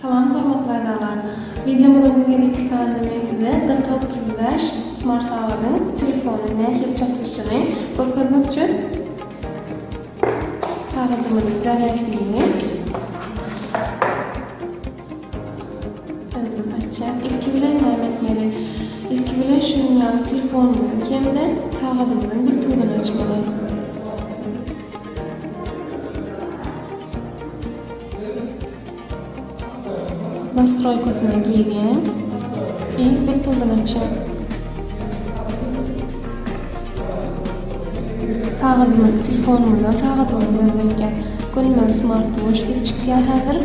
Salam hormatly agzalar! Wideomyzyň bu gezekki sanynda men size Data otuz bäş smart sagadyň telefony nähili çalşyşyny görkezmek üçin sagadymyzyň zarýadkini Özüm aýtja ilki bilen näme etmeli. Ilki bilen şu gün ýaly telefonymyzyň kemde sagadymyzyň bir tuduny açmaly. Nastroýkasyna girýän i bir tuduny açýan. Sagadymyz telefonymyzdan sagadymyzy gözleýän Gönümel smart watch diýip çykýar häzir.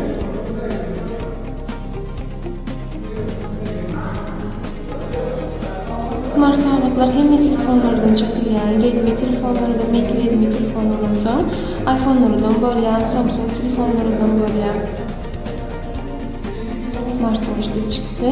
Smart sagatlar hemme telefonlardan çykýar. Redmi telefonlardan, Mate Redmi telefonlardan soň iPhone-lardan bolýar, Samsung telefonlardan bolýar. Smart watch diýip çykdy.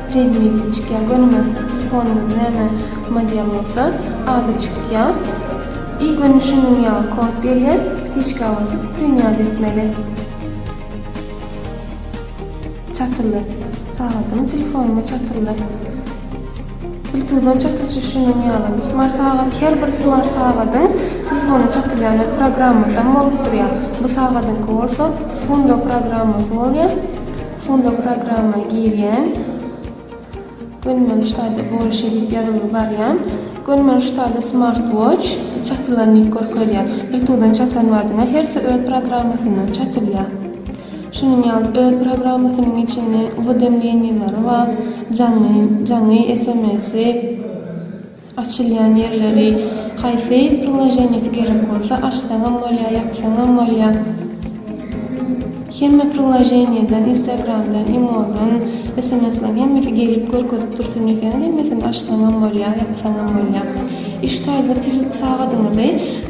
Redmi diýip çykýar. Gönüňiz telefonyňyz näme model bolsa ady çykýa. I göni şunuň ýaly kod gelýä. Ptiçka basyp prinýat etmeli. Çatyldy. Sagadyň telefonuma çatyldy. Bluetooth-dan çatylyşy şunuň ýaly. Bu smart sagat her bir smart sagadyň telefona çatylýan öz programmasam bolup durýa. Bu sagadyňky bolsa Fundo programmasy bolýa. Şonda programma girýän. Gönümel ştaýda bolşy diýip ýazylgy barýan. Gönümel ştaýda Smart Watch çatylanýk görkezýär. Bluetooth-dan çatan badyňa hersi öz programmasyndan çatylýar. Şunuň ýaly öz programmasynyň içinde uwedemleniýalary bar, jaňy, jaňy sms-i. Açylýan ýerleri haýsy priloženýesi gerek bolsa açsaňam bolýar ýapsaňam bolýar hemme priloženýeden instagramdan imoldan smslan hemmesi gelip görkezip dursun diýseňiz hemmesini açsaňam bolýar ýapsaňam bolýar iş taýda telefon sagadyňyzy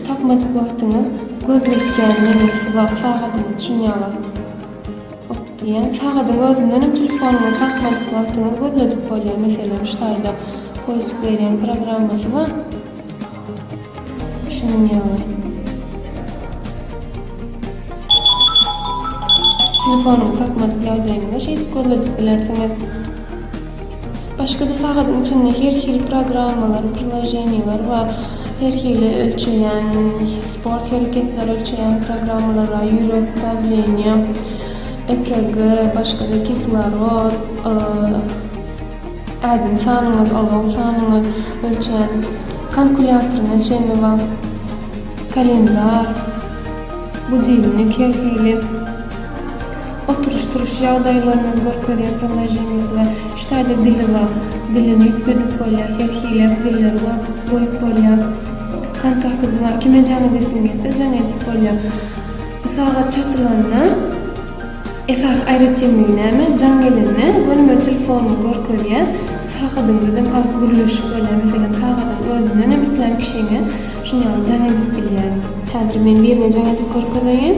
tapmadyk wagtyňyz göz ýetýän nemesi bar sagadyňyz çyn ýaly. Ýok diýýän sagadyň özündenem telefonyňa tapmadyk wagtyňyz gözledip bolýar meselem şu taýda poisk berýän programmasy bar düşünen ýaly telefonyňy tapmadyk ýagdaýyňda şeýdip gözledip bilersiňiz. Başga-da sagadyň içinde her hili programmalar, priloženiýalar bar. Her hili ölçeýän, sport hereketleri ölçeýän programmalar bar, ýürek dawleniýa, EKG, başga-da kislorod, ädim sanyňyz, ulagyň sanyňyz ölçän kalkulýatoryna çenli bar, kalendar, budilnik her hili. Oturyş-turuş ýagdaýlaryny görkezýän priloženiýasy bar. Üç taýda dili bar. Dilini üýtgedip bolýar. Her hili dilleri bar. Goýup bolýar. Kontakty bar. Kime jaň edesiň gelse jaň edip bolýar. Bu sagat çatylanda esasy aýratynlygy näme? Jaň gelende gönümel telefonyny görkezýär. Sagadyňda dem alyp gürleşip bolýar. Meselem, sagadyň özünden hem islän kişiňe şuny alyp jaň edip bilýär. Häzir men birine jaň edip görkezeýin.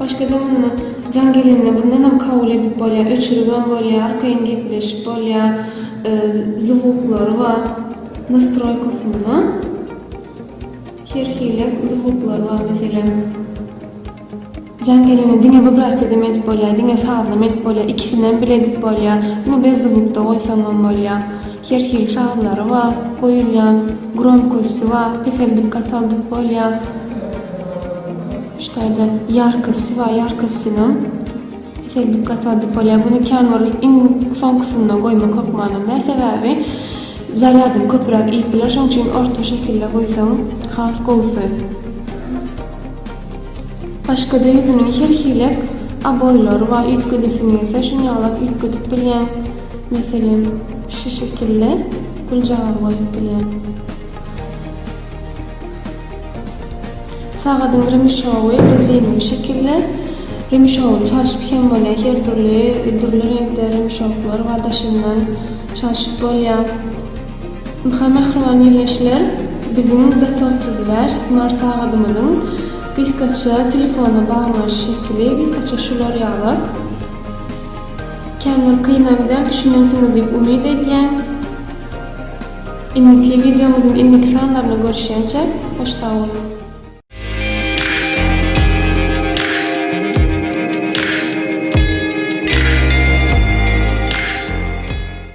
Başgadan mundan jaň gelende bundanam kabul edip bolýar, öçüribem bolýar, arkaýyn gepleşip bolýar, zwuklary bar nastroýkasynda. Her hili zwuklar bar meselem. Jaň gelende diňe wibrasiýadam edip bolýar, diňe sazlam edip bolýar, ikisinem bile edip bolýar, diňe bezzwukda goýsaňam bolýar. Her hili sazlary bar goýulýan gromkosty bar peseldip gataldyp bolýar şu taýda ýarkosty bar ýarkostynam peseldip gataldyp bolýar bunu kän bir iň soňkysyndan goýmak hökmanam däl sebäbi zarýadyny köpüräk iýip biler şoň üçin orta şekilde goýsaň has gowusy başgada ýüzüniň her hilek oboýlary bar üýtgedesiň gelse şuny ýaly üýtgedip bilýäň. Meselem, şu şekilde güljagaz goýup bilýän. Sagadyň remşowy, rezinowy şekilde, remşowy çalşyp hem bolýar, her dürli, dürli reňkde remşoklar bar, daşyndan çalşyp bolýar. Ynha, mähriban ildeşler, biziň DT otuz bäş smart sagadymyzyň gysgaça telefona baglanyş şekili, gysgaça şular ýaly. Kän bir kynam däl düşünensiňiz diýip umyt edýän. Indiki wideomyzyň indiki sanlarynda görüşýänçä hoş sag boluň.